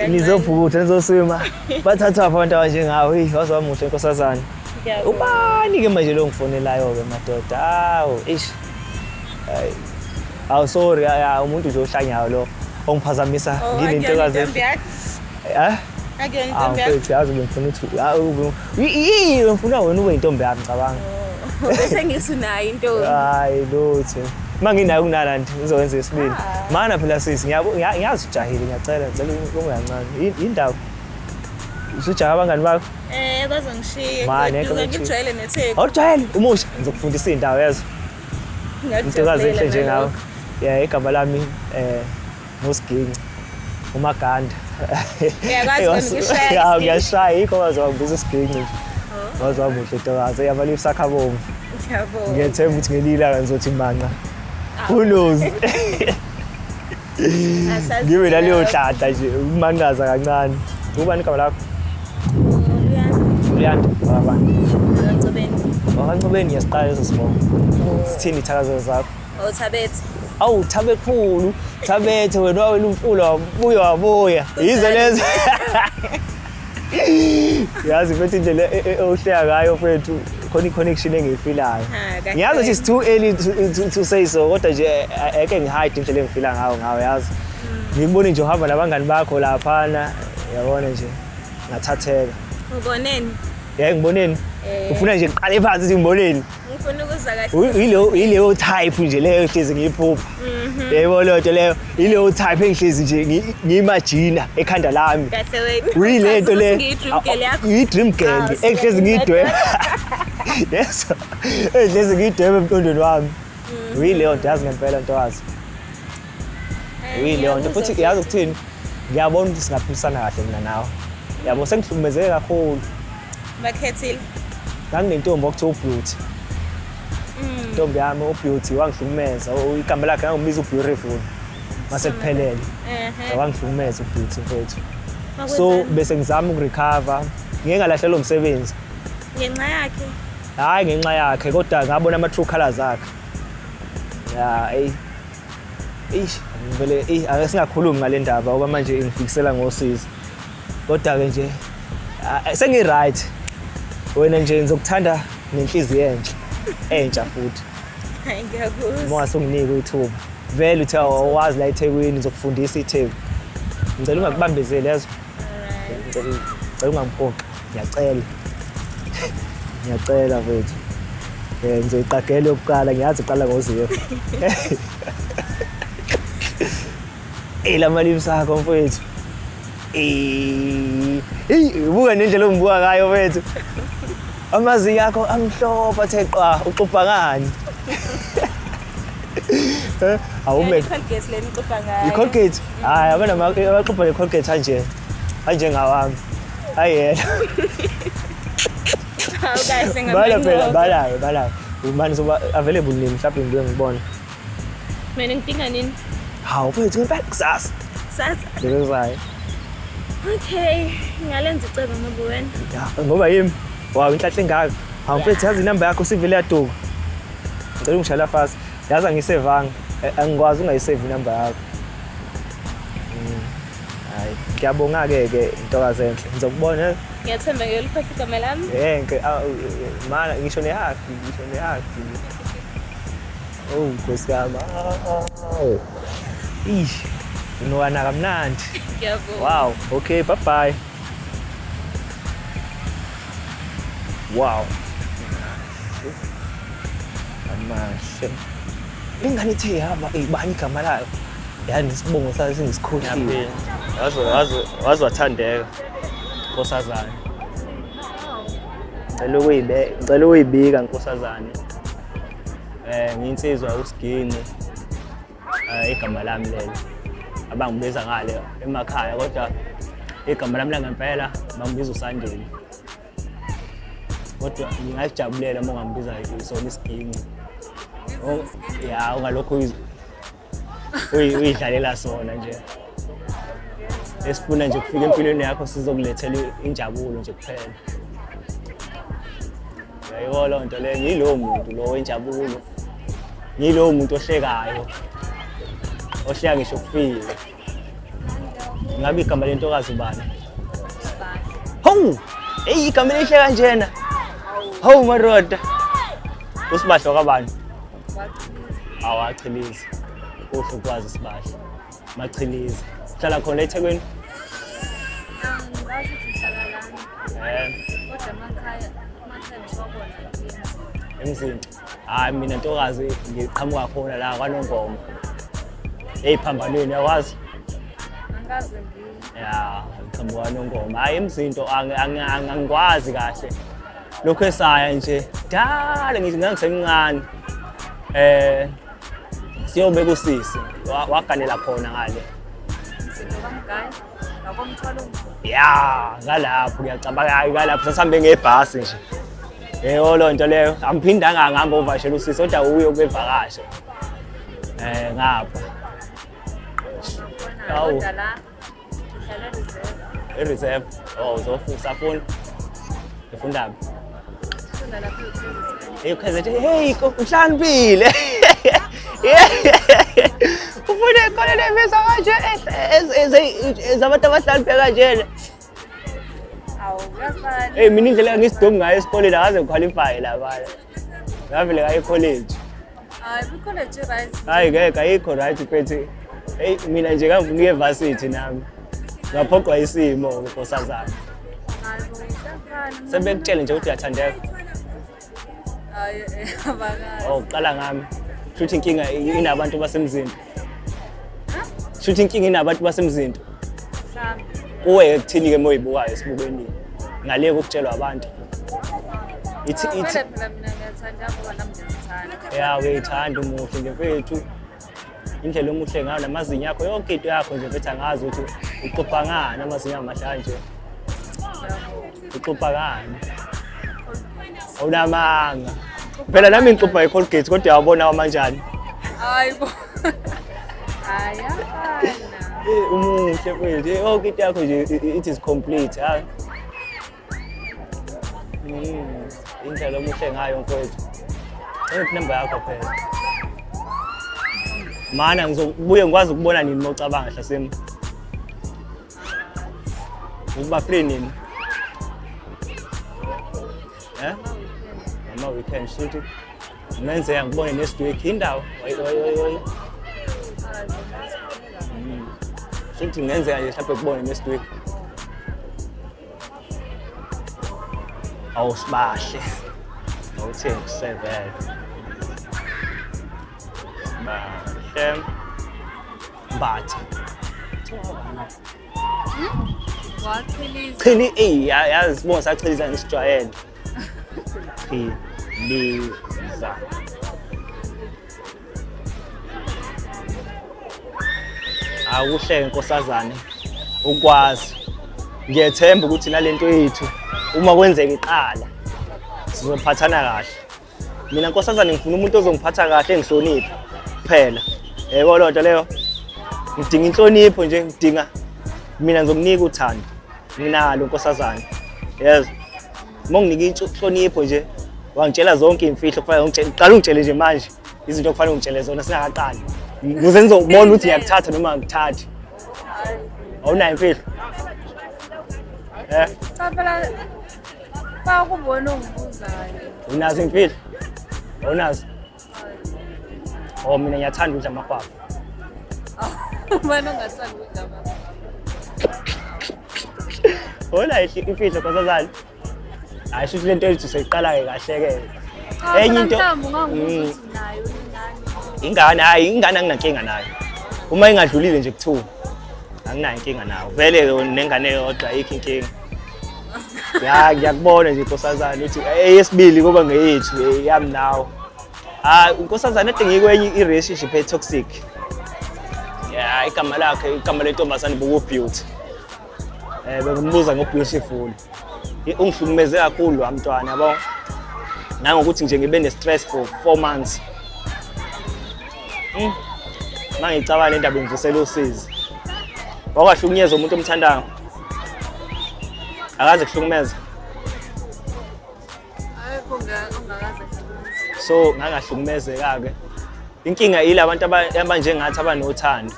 nizovutha nizoswima bathathwa abantu abanjengawe eyi waze wamuhle nkosazana ubani-ke manje lo ngifonelayo-ke madoda hawu ish hawu sorry umuntu nje ohlanyayo lo ongiphazamisa oh, nginentokazi eh? yazi bengifuna ukuthi Yini ngifuna wena ube intombi yami cabanga. Sengithi nayo intombi. Hayi lutho. Uma nginayo kunala nje ngizokwenza isibili. Ah. Mana phela sisi ngiyazi ujahile ngiyacela ngicela ungancane. Indawo. Usujaha abangani bakho? Eh bazongishiya. Mane ngijwayele netheku. Awujwayele umusha ngizokufundisa indawo yazo. Ngiyakujabula. Intokazi enhle njengawe. Yeah igama lami eh Nosiginci. Umaganda. Uyakwazi wena ukushaya. Ya ngiyashaya yikho waze wangibiza usiginci. Oh. Waze wamuhle tokaze yabali usakha bomvu. Ngiyabonga. Ngiyethemba ukuthi ngelila kanzothi manqa. Ah. Who knows? Ngibe naleyo hlahla nje umanqaza kancane. Ubani igama lakho? Luyanda. Baba. Ngicobeni. Baba Ngicobeni ngiyasiqala leso sibongo. Sithini ithakazelo zakho? Oh Thabethe. Awu Thabekhulu, Thabethe wena wawela umfula wabuya wabuya. Yizo lezo. Yazi mfethu indlela e- e- ohleka ngayo mfethu khona i-connection engiyifilayo. Ha, kahle. Ngiyazi ukuthi it's too early to, to, to say so kodwa nje eh, eh, eke ngihide indlela engifila ngayo ngayo yazi. Ngikubone nje uhamba nabangani bakho laphana yabona nje ngathatheka. Uboneni? Yayi ngiboneni? Eh. Ufuna nje kuqale phansi ukuthi ngiboneni? ngifuna ukuzwa kahle yileyo yileyo type nje leyo hlezi ngiyiphupha mhm. yebo leyo nto leyo yileyo type engihlezi nje ngiyimajina ekhanda lami uyile nto le yi-dream girl ah, engihlezi ngiyidweba yes engihlezi ngiyidweba emqondweni wami mm. uyileyo nto yazi ngempela ntokazi Yileyo nto futhi uyazi ukuthini ngiyabona ukuthi singaphilisana kahle mina nawe yabo sengihlukumezeke kakhulu bakhethile nganginentombi okuthiwa ubeauty mm. intombi yami ubeauty wangihlukumeza igama lakhe ngangibiza ubeautiful mase kuphelele wangihlukumeza ubeauty mfethu so bese ngizama ukurecover ngeke ngalahlelwa umsebenzi ngenxa yakhe hhayi ngenxa yakhe kodwa ngabona ama-true colors akhe ya eyi Eish, vele eh ake singakhulumi ngale ndaba ngoba manje ingifikisela ngosizi. Kodwa ke nje ah, sengi right. Wena nje ngizokuthanda nenhliziyo enhle. Entsha futhi. Hayi ngiyakuzwa. Uma sunginike ithuba. Vele uthe awazi la eThekwini ngizokufundisa iTheku. Ngicela ungakubambezeli yazi. Alright. Ngicela ngicela ungangiphoqi. ngiyacela ngiyacela mfethu um ngizoyiqagela yokuqala ngiyazi iqala ngoziro eyi la mali sakho mfethu eyi buka nendlela ongibuka ngayo mfethu amazinyo akho amhlophe athe qwa uxubha ngani awume i-colgate hayi abanabaxubha ne-colgate anje anjengawami ayena bala phela balayo balayo ubani soba available nini mhlawumbe ngibe ngibona mina ngidinga nini hawu mfethu ngempela kusasa kusasa ngibezayo okay ngalenza icebo ngoba wena ngoba yimi wawu inhlahle engaka hawu mfethu yazi inamba yakho sivele yaduka ngicela ungishayela fast yazi angisevanga angikwazi ungayisave inamba yakho Hayi, ngiyabonga-ke ke ntokazi enhle. Ngizokubona. Ngiyathemba ke uliphatha igama lami. Eh, ngike aw, mana ngisho nehafi, ngisho nehafi. Oh, Nkosi yami. Aw. Ish. Unowana kamnandi. Ngiyabonga. Wow, okay, bye bye. Wow. Amahle. Lengane ithe yaba ibani igama layo. yani isibongo sayo singisikhohliwe waze wathandeka nkosazane ngicela ukuyibika nkosazane um nginsizwa usigini um igama lami lelo abangibiza ngale emakhaya kodwa igama lami langempela bangibiza usandile kodwa ngingalijabulela uma ungambiza isona isiginci ya ungalokhu uyidlalela sona nje esifuna nje kufika empilweni yakho sizokulethela injabulo nje kuphela yayiwo loo nto leyo ngiyilowo muntu lo wenjabulo ngiyilowo muntu ohlekayo ohleka ngisho kufile Ngabe igama lentokazi ubani? Hawu! Eyi igama elihle kanjena. Hawu maroda. Usibahlo kabani? Awachilizi. Uhle ukwazi isibahlo. Machilizi. Sihlala khona eThekwini? Eh. Kodwa emakhaya, emakhaya ngiwabona. Emzinci. hayi mina ntokazi ngiqhamuka khona la kwanongoma eyiphambanweni yawazi ya ngiqhamuka kwanongoma hhayi emzinto angikwazi kahle lokhu esaya nje dala ngithi ngangisemncane um siyobe kusisi waganela khona ngale ya ngalapho ngiyacabanga ngalapho sasihambe ngebhasi nje yeyo loo nto leyo angiphindanga ngihamba ovashela usisi kodwa uye ukuyevakasha um eh, ngapha awu i-reserve o oh, uzofunda safunda ngifundaphi Hey, ukhazethe. Hey, uhlambile. Ufuna ikhona lemisa kanje ezabantu abahlambile kanjena. Awu, kuyafana. Hey, mina indlela ngisidomu ngayo esikoleni akaze ngiqualify la bana. Ngavele ngayo college. Hayi bikho le nje right. Hayi ngeke ayikho right phethi. Hey mina nje kangifuna uye varsity nami. Ngaphoqwa isimo ngosazana. Hayi bo isafana. Sebekutshele nje ukuthi uyathandeka. Hayi eh abakazi. Oh qala ngami. Futhi inkinga inabantu basemzini. Shuthi inkinga inabantu basemzinto. Kuwe kuthini ke moyibukayo esibukweni ngale kokutshelwa abantu. Ithi ithi Yeah, uyayithanda umuhle nje mfethu. Indlela omuhle ngayo namazinyo akho yonke into yakho nje mfethu angazi ukuthi uqopha ngani amazinyo amahle kanje. uxophakani awunamanga phela nami ngixophwa i-colgate kodwa yawabona wamanjani hayi bo hayi afana Eh, umuhle mfethu Eh, yonke into yakho nje i- i- it is complete ha Mm, indlela omuhle ngayo mfethu ephi number yakho phela mana ngizobuye ngikwazi ukubona nini uma ucabanga hlasema Uba free nini? Eh? Mama weekend shit. Menze yangibone nesiduke indawo. Oy oy oy oy. Hmm. Shit ngenzeka nje mhlawumbe kubone nesiduke. Awusibahle. Awuthengi sevele. Bahle. Mbatha. Wachiliza. Chili eyi ya- yazi sibongo sachiliza ngisijwayele. Chiliza. Akuhleke nkosazane ukwazi. Ngiyethemba ukuthi nalento yethu uma kwenzeka iqala sizophathana kahle. mina nkosazane ngifuna umuntu ozongiphatha kahle engihloniphe kuphela yebo loo nto leyo ngidinga inhlonipho nje ngidinga mina ngizomnika uthando nginalo nkosazane yes uma unginike inhlonipho nje wangitshela zonke iy'mfihlo kufanele uqala ungitshele nje manje izinto okufanele ungitshele zona singakaqali ukuze ngizobona ukuthi ngiyakuthatha noma ngikuthathi awunayo imfihlo um Fa ukubona ongibuzayo. Unazo imfihlo? Unazo? Oh mina ngiyathanda ukudla amahwahwa. Ubani ongathanda ukudla amahwahwa? Hola imfihlo nkosazane. Hayi shuthi lento ethi seyiqala-ke kahle-ke. Enye into mm. ingane hayi ingane anginankinga nayo. Uma ingadlulile nje kuthiwa anginayo inkinga nawo. Vele nengane yodwa ayikho inkinga. ya ngiyakubona nje nkosazane uthi eyesibili eh, kuba ngeyethu eh, yami nawo hayi ah, unkosazane ade ngikwenye i-relationship e-toxic ya igama lakhe igama lentombazane bokubeauty um eh, bengimbuza ngobeautiful ungihlukumeze kakhulu wa mntwana yabo nangokuthi nje ngibe ne-stress for four months hmm. uma ngicabanga le ndaba ingivusela usizi wakwahlukunyezwa umuntu omthandayo akaze kuhlukumeza so ngangahlukumezeka-ke inkinga yile abantu abanjengathi abanothando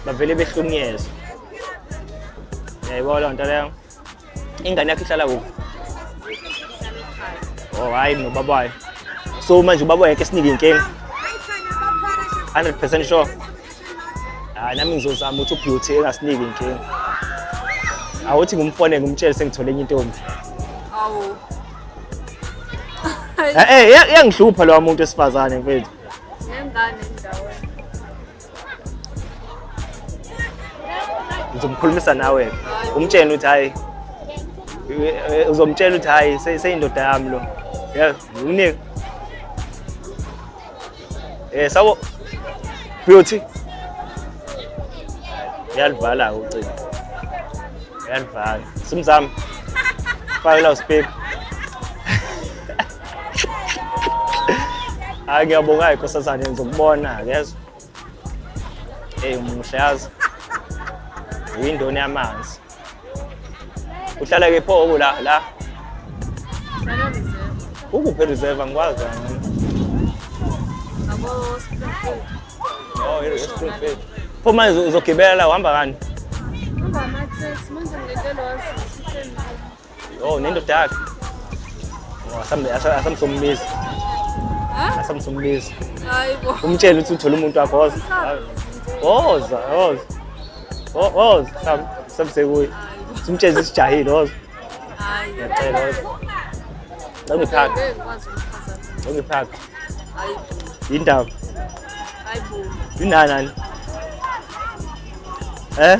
bavele behlukunyezwa yayibona loo nto leyo ingane yakho ihlala kuphi o oh, hhayi nobaba wayo so manje ubaba wayo ke sinike inkinga 100 percent sure hayi nami ngizozama ukuthi ubeauty engasiniki inkinga awuthi ngumfone ngumtshele sengithole enye intombi awu eh, eh iyangihlupha lowa muntu esifazane mfethu ngengane ndawo ngizomkhulumisa nawe umtshela ukuthi hayi eh, uzomtshela ukuthi hayi seyindoda yami lo yeah unika Eh sabo Beauty. Uyalivala ucingo. Uyalivala. Simzami. Fake la speak. Hayi ngiyabonga ke nkosazane ngizokubona yezwa. Hey umuhle yazi. Yindoni yamanzi. uhlala ke pho oku la la ukuphi reserve angikwazi oh i-springfield pho manje uzogibela la uhamba kani Oh, nendoda yakhe. Oh, asambe asamsombiza. Ha? Asamsombiza. Hayibo. Umtshela ukuthi uthola umuntu wakho woza. Woza, woza. Wo- Woza, sam samsekuye. Simtshela isijahile woza. Hayi. Ngiyacela woza. Cela ungiphake, Ngeke ngikwazi ukuphazama. cela ungiphake. Hayibo. Yindaba. Hayibo. Yinanani? Eh?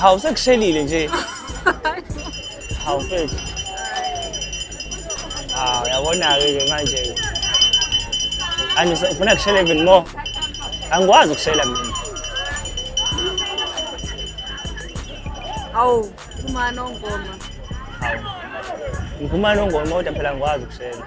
Hawu sekushelile nje. Hawu mfethu. Hawu yabona-ke ke manje-ke. Anti ngifuna kushela even more. Angikwazi ukushela mina. Hawu, umano ngoma. Hawu. Ngumano ngoma kodwa phela ngikwazi ukushela.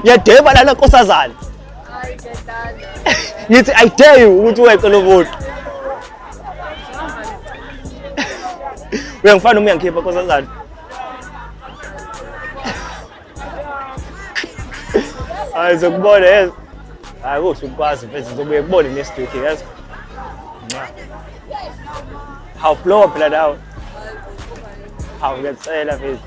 Ngiyadeba lana nkosazana. Ngithi I dare you ukuthi weqe lo vote. Uyangifana noma uyangikhipha nkosazana? Hayi zokubona yes. Hayi kuhle ukwazi mfethu ngizobuye kubone next week yes. Hawu blow up la dawo. Hawu ngiyacela mfethu.